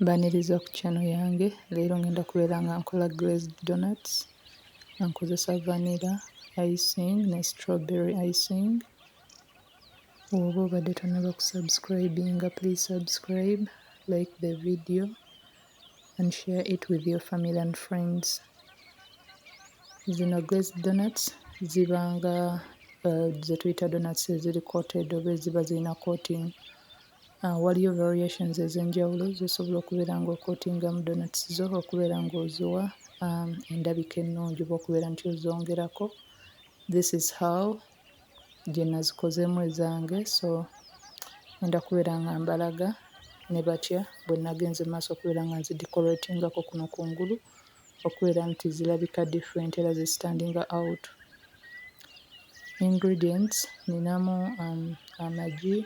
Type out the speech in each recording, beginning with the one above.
Mbaniriza ku channel yange leero ngenda kubeera nga nkola glazed donuts nga nkozesa vanilla icing ne strawberry icing. Bw'oba obadde tonnaba kusubscribinga please subscribe, like the video and share it with your family and friends. Zino glazed donuts ziba nga eh, ze tuyita donuts eziri coated oba eziba zirina coating Waliyo variations ez'enjawulo z'osobola okubeera ng'okotingamu donuts zo okubeera ng'oziwa um, endabika ennungi oba okubeera nti ozongerako. This is how gye nazikozemu ezange so ngenda kubeera nga mbalaga ne batya bwe nagenze maaso okubeera nga nzidecoratingako kuno kungulu. okubeera nti zilabika different era zi standinga out. Ingredients ninamu um, amagi,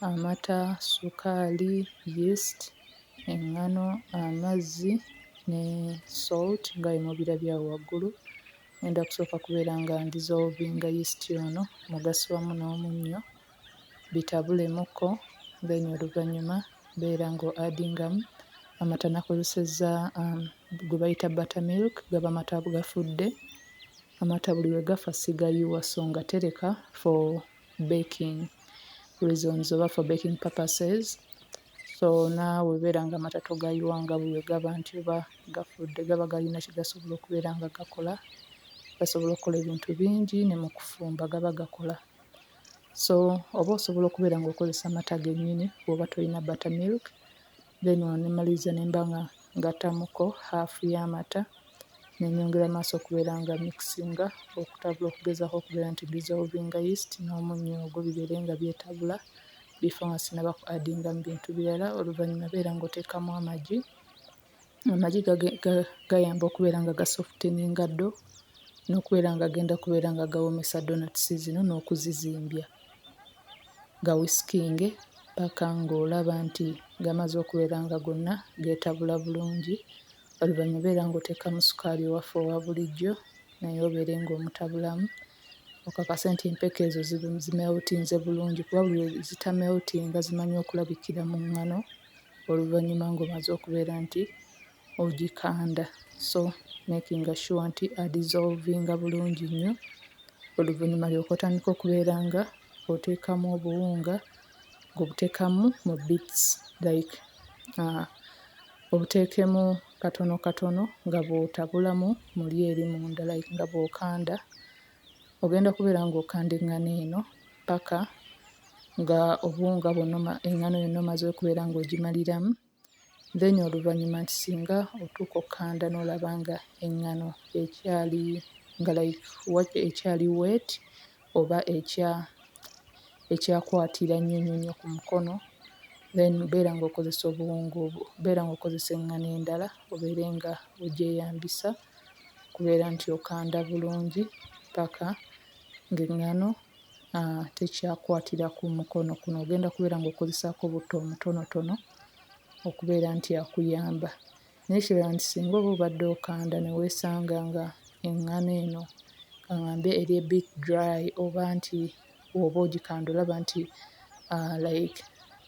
amata, sukaali, yeast, eŋŋano, amazzi ne salt nga bwe mubirabye awo waggulu. Ngenda kusooka kubeera nga ndizolvinga yeast ono mu gasiwamu n'omunnyo. bitabulemuko then oluvanyuma beera nga adingamu amata nakozeseza gwebayita bata milk gaba mata gafudde amata buli lwegafa sigayiwa so nga tereka for baking reasons oba for baking purposes so naawe beera nga amata togayiwa nga buli lwegaba nti oba gafudde gaba galina kyegasobola okubeera nga gakola gasobola okukola ebintu bingi nemukufumba gaba gakola. So oba osobola okubeera nga okozesa mata gennyini bw'oba tolina butter milk then wano ne mmaliriza ne mba nga ngattamuko haafu y'amata ne nnyongera maaso okubeera nga mixinga okutabula okugezaako okubeera nti dissolvinga yeast n'omunnyo ogwo bibeere nga byetabula before nga sinnaba ku addingamu bintu birala. Oluvannyuma beera ng'oteekamu amagi Amagi gayamba okubeera nga gasofteninga ddo n'okubeera nga genda okubeera nga gawoomesa ddonatusi zino n'okuzizimbya, gawisikinge ppaka ng'olaba nti gamaze okubeera nga gonna geetabula bulungi. Oluvannyuma obeera ng'oteekamu sukaali ewaffe owa bulijjo naye obeere ng'omutabulamu okakase nti empeke ezo zimeltinze bulungi kuba buli lwe zitameltinga zimanya okulabikira mu nngano. oluvannyuma ng'omaze okubeera nti ogikanda so making sure nti adizolvinga bulungi nnyo oluvannyuma olyoke otandika okubeera nga oteekamu obuwunga ng'obuteekamu mu bits like uh obuteekemu katono katono nga bw'otabulamu mu eri munda like nga bw'okanda. Ogenda kubeera ng'okanda eŋŋano eno paka nga obuwunga bwonna oma eŋŋano yonna omaze okubeera ng'ogimaliramu then oluvannyuma nti singa otuuka okkanda n'olaba nga eŋŋano ekyali nga like wa ekyali wet oba ekya ekyakwatira nnyo nnyo nnyo ku mukono then beera ng'okozesa obuwunga obwo beera ng'okozesa eŋŋano endala obeere nga ogyeyambisa. kubeera nti okanda bulungi ppaka ng'eŋŋano tekyakwatira ku mukono. Kuno ogenda kubeera ng'okozesaako butto omutonotono okubeera nti akuyamba. Naye ekirala nti singa oba obadde okanda ne weesanga ng'eŋŋano eno ka ŋŋambe eri a bit dry oba nti oba ogikanda olaba nti like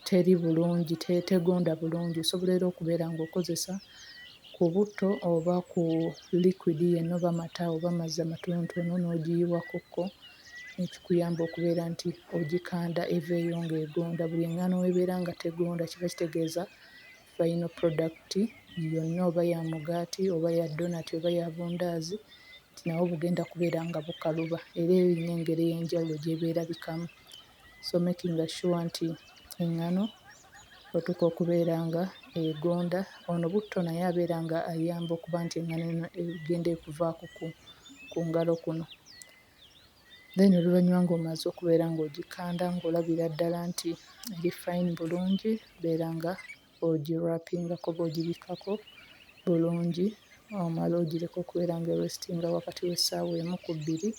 teri bulungi tegonda bulungi osobola era okubeera ng'okozesa ku butto oba ku likwidi yenna oba mata oba mazzi amatonotono n'ogiyiwakokko ekikuyamba okubeera nti ogikanda eveeyo ng'egonda. Buli eŋŋaano w'ebeera nga tegonda kiba kitegeeza. final product yonna oba ya mugaati oba ya donati oba ya bundaazi nti nabwo bugenda kubeera nga bukaluba era erina engeri ey'enjawulo gy'eba erabikamu so making sure nti eŋŋano otuuka okubeera nga egonda ono butto naye abeera nga ayamba okuba nti eŋŋano eno egenda ekuvaako ku ku ngalo kuno. then oluvannyuma ng'omaze okubeera ng'ogikanda ng'olabira ddala nti eri fine bulungi beera nga ogi wrap-ingako oba ogibikkako bulungi omale ogireke okubeera nga erestinga wakati w'essaawa emu ku bbiri.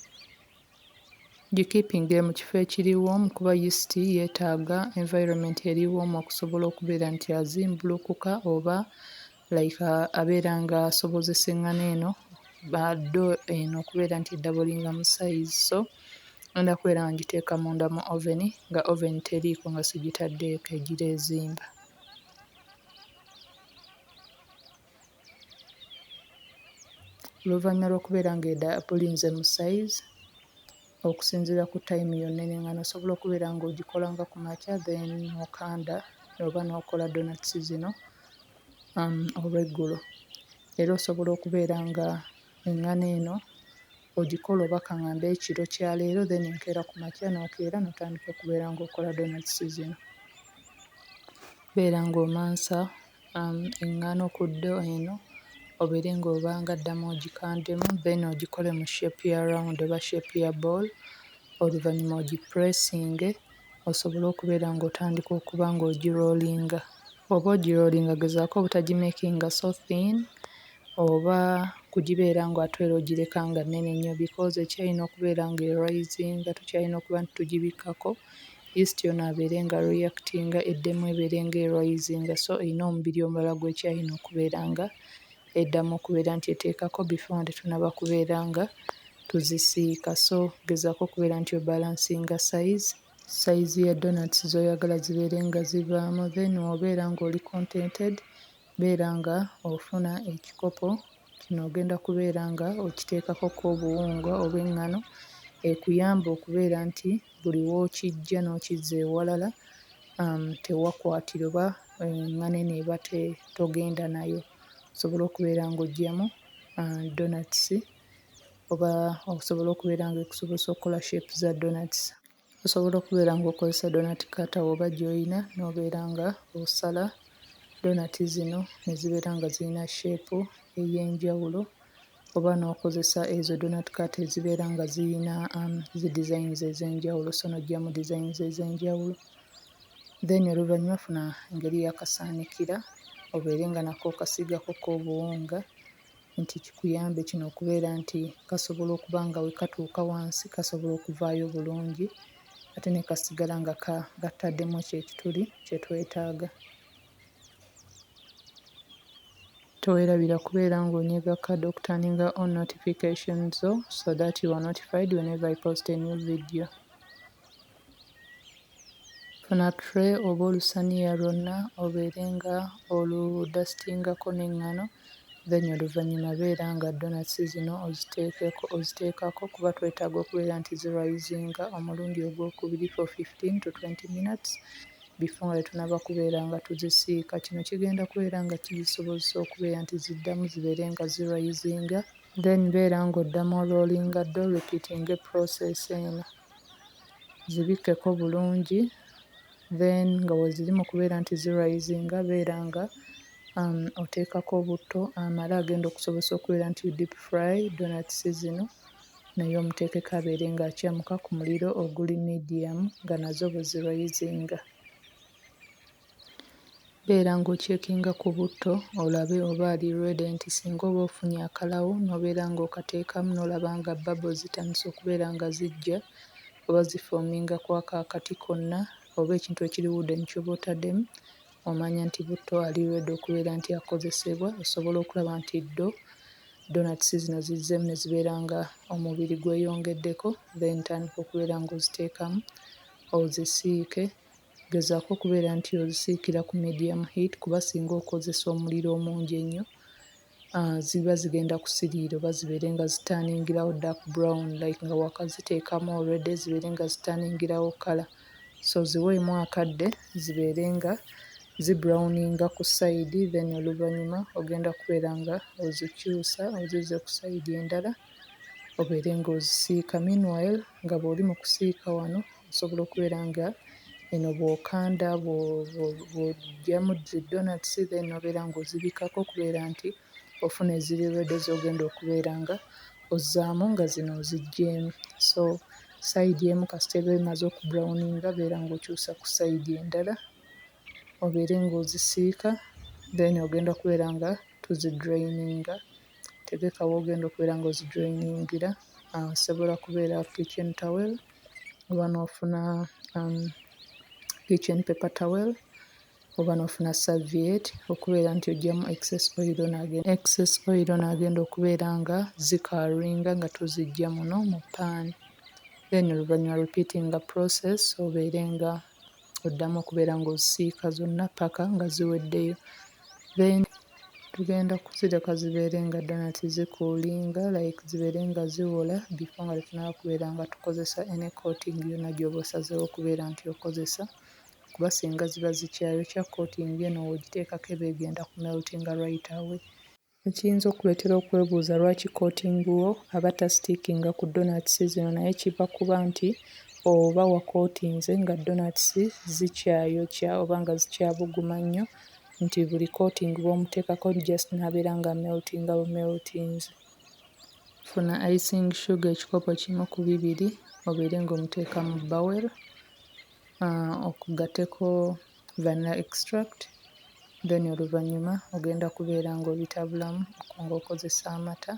Gikeepinge mu kifo ekiri warm kuba yeast yeetaaga environment eri warm okusobola okubeera nti azimbulukuka oba like uh, abeera nga asobozesa eŋŋano eno do eno okubeera nti eddabolinga mu sayizi so enda kubeera nga ngiteeka munda mu oven nga oven teriiko nga sigitaddeeko egira ezimba oluvannyuma lw'okubeera nga edabolinze mu sayizi okusinziira ku time yonna eno engano osobola okubeera nga ogikola nga ku makya then okanda oba n'okola donuts zino um, olweggulo era osobola okubeera nga engano eno ogikola oba kaŋamba ekiro kya leero then enkeera ku makya n'okeera n'otandika okubeera ng'okola donuts zino beera ng'omansa eŋŋaano ku ddyo eno obeere ng'oba nga ddamu ogikandemu then ogikole mu shape ya round oba shape ya ball oluvannyuma ogipuleesinge osobole okubeera ng'otandika okuba ng'ogiroolinga. Bw'oba ogiroolinga gezaako obutagimeekinga so thin oba kugibeera nga ate era ogireka nga nnene nnyo because ekyayina okubeera ng'erwayizinga tukyayina okuba nti tugibikkako East yona abeere nga reactinga eddemu ebeere nga erisinga so erina omubiri omulala gwekyayina okubeera nga eddamu okubeera nti eteekako before nga tetunaba kubeera nga tuzisiika so gezaako okubeera nti obalansinga size sayizi ya donats z'oyagala zibeere nga zivaamu then wobeera ng'oli contented Beera nga ofuna ekikopo, kino ogenda kubeera nga okiteekako ko obuwunga obw'eŋŋano ekuyambe okubeera nti buli w'okiggya n'okizza ewalala tewakwatira oba eŋŋano eno eba te togenda nayo, osobole okubeera ng'oggyamu ddonatusi oba osobole okubeera nga ekusobozesa okukola shepu za ddonatusi. Osobola okubeera ng'okozesa donati kkata oba gy'oyina n'obeera ng'osala donati zino ne zibeera nga zirina sheepu ey'enjawulo oba n'okozesa ezo donati kkata ezibeera nga zirina zidizayinizi ez'enjawulo sso n'oggyamu dizayinizi ez'enjawulo. Then oluvannyuma funa engeri y'akasaanikira obeere nga nako okasiigako ko obuwunga. nti kikuyambe kino okubeera nti kasobola okuba nga we katuuka wansi kasobola okuvaayo bulungi ate ne kasigala nga kataddemu ekyo ekituli kye twetaaga. Teweerabira kubeera ng'onyega kade okuturninga on notification zo so that you are notified whenever I post a new video. Funa tray oba olusaniya lwonna obeere nga olu dustingako n'engano then oluvanyuma beera nga donuts zino oziteekeko oziteekako kuba twetaaga okubeera nti zi risinga omulundi ogw'okubiri for fifteen to twenty minutes before nga tetunaba kubeera nga tuzisiika. Kino kigenda kubeera nga kizisobozesa okubeera nti ziddamu zibeere nga zi risinga then beera nga oddamu o rollinga ddo repeatinge process eno. zibikkeko bulungi then nga weziri mu kubeera nti zi risinga beera nga oteekako obutto amala agenda okusobozesa okubeera nti deep fry donats zino naye omuteekeko abeere nga akyamuka ku muliro oguli medium nga nazo bwe zi risinga. Beera ng'okyekinga ku butto olabe oba ali ready nti singa oba ofunye akalawo n'obeera ng'okateekamu n'olaba nga bubble zitandise okubeera nga zijja oba zifoominga ku ako akati konna oba ekintu ekiri wooden ky'oba otaddemu omanya nti butto ali ready okubeera nti akozesebwa osobola okulaba nti ddo ddonatusi zino zizzeemu ne zibeera nga omubiri gweyongeddeko then tandika okubeera ng'oziteekamu ozisiike. Gezaako okubeera nti ozisiikira ku medium heat kuba singa okozesa omuliro omungi ennyo uh, ziba zigenda kusiriira oba zibeere nga zitaningirawo dark brown like nga wakaziteekamu already zibeere nga zitaningirawo kala so ziweemu akadde zibeere nga zibrowninga ku sayidi then oluvannyuma ogenda kubeera nga ozikyusa ozizze ku sayidi endala obeere ng'ozisiika meanwhile nga bw'oli mu kusiika wano Osobola okubeera nga eno bw'okanda bw'oggyamu zi donatisi then n'obeera ng'ozibikkako okubeera nti ofuna eziri ready z'ogenda okubeera nga ozzaamu nga zino oziggyeemu. So sayidi emu kasita eba emaze okubulawuninga beera ng'okyusa ku sayidi endala obeere ng'ozisiika then ogenda kubeera nga toziduleyininga. Tegeka w'ogenda okubeera nga ozijoyiningira, osobola kubeera kitchen towel oba n'ofuna kitchen paper towel oba n'ofuna serviette okubeera nti oggyamu excess oil n'agenda excess oil n'agenda okubeera nga zikaaringa nga toziggya muno mu ppaani. Then oluvannyuma repeatinga process obeere nga... oddamu okubeera ng'osiika zonna ppaka nga ziweddeyo. Then tugenda kuzireka zibeere nga donut zikuulinga like zibeere nga ziwola before nga tetunaaba kubeera nga tukozesa any coating yonna gy'oba osazeewo okubeera nti okozesa kuba singa ziba zikyayokya coating eno w'ogiteekako eba egenda kumeltinga right away. Ekiyinza okukuletera okwebuuza lwaki coating wo aba ta stickinga ku donuts zino naye kiva kuba nti oba wa coatinze nga donuts zikyayokya oba nga zikyabuguma nnyo nti buli coating bwomutekako just nabeera nga ameltinga bu meltinze. Funa icing sugar ekikopo kimu ku bibiri obeere nga omuteeka mu bowel, uh, okugateko Vanilla extract then oluvanyuma ogenda kubeera nga obitabulamu nga okozesa amata.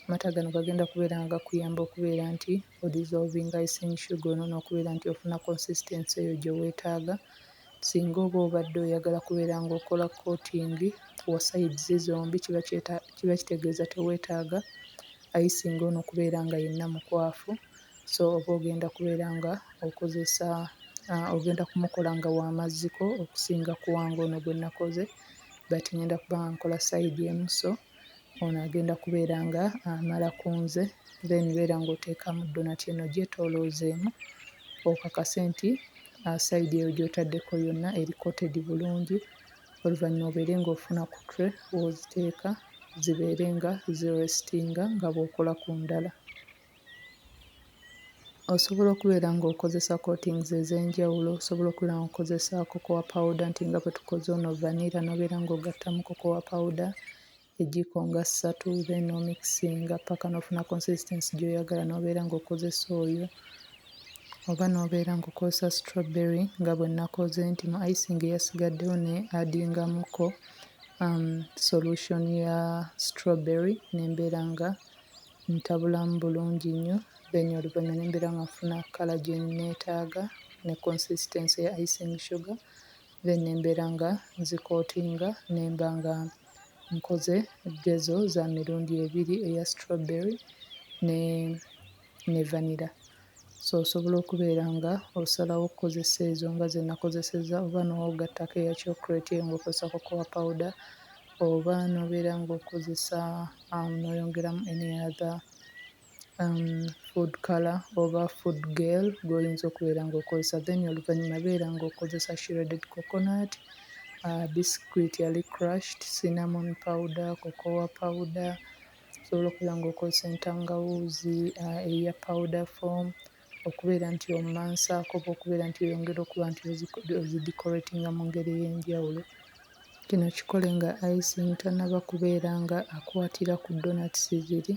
Amata gano gagenda kubeera nga gakuyamba okubeera nti o dissolving icing sugar ono n'okubeera nti ofuna consistency eyo gye weetaaga. Singa oba obadde oyagala kubeera nga okola coating wa sides zombi kiba kyeta kiba kitegeeza teweetaaga icing ono kubeera nga yenna mukwafu. So oba ogenda kubeera nga okozesa ogenda kumukola nga wamazziko okusinga kuwanga ono gwenakoze but ngenda kuba nga nkola side emu so ono agenda kubeera nga amala kunze then beera nga oteekamu donati eno gyetoloozeemu okakase nti uh, side eyo gyotadeko yonna eri coated bulungi oluvannyuma obeere nga ofuna ku tray woziteeka zibeere nga zirestinga nga bwokola ku ndala Osobola okubeera ng'okozesa coatings ez'enjawulo, osobola okubeera ng'okozesa cocoa powder nti nga bwe tukoze ono vanilla n'obeera ng'ogattamu cocoa powder ejjiiko nga ssatu then n'omikisinga ppaka n'ofuna consistency gy'oyagala n'obeera ng'okozesa oyo oba n'obeera ng'okozesa strawberry nga bwe nnakoze nti mu icing eyasigaddewo ne adingamuko solution ya strawberry ne mbeera nga. Ntabulamu bulungi nnyo, then oluvannyuma ne mbeera nga nfuna kkala gye nneetaaga ne consistency ya icing sugar, then ne mbeera nga nzikootinga ne mba nga nkoze gezo za mirundi ebiri eya strawberry ne ne vanilla. So osobola okubeera nga osalawo okukozesa ezo nga zenakozeseza oba nogattako eya chocolate eyo nga okozesa cocoa powder oba nobeera nga okozesa am noyongeramu any other am food colour oba food gel gwoyinza okubeera nga okozesa then oluvanyuma beera nga okozesa shredded coconut aa biscuit ali crushed cinnamon powder, cocoa powder, Osobola okubeera ng'okozesa entangawuuzi eya powder form, okubeera nti omansaako oba okubeera nti oyongera okuba nti ozidecoratinga mu ngeri ey'enjawulo. Kino kikole nga icing tannaba kubeera nga akwatira ku donuts ziri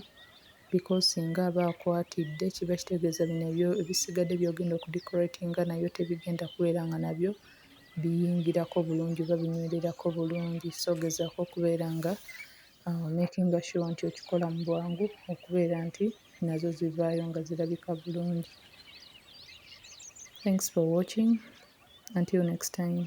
because singa aba akwatidde kiba kitegeeza bino ebyo ebisigadde by'ogenda okudecoratinga nabyo tebigenda kubeera nga nabyo biyingirako bulungi oba binywererako bulungi. So gezaako okubeera nga... Awo makinga sure nti okikola mu bwangu okubeera nti nazo zivaayo nga zirabika bulungi. Thanks for watching until next time.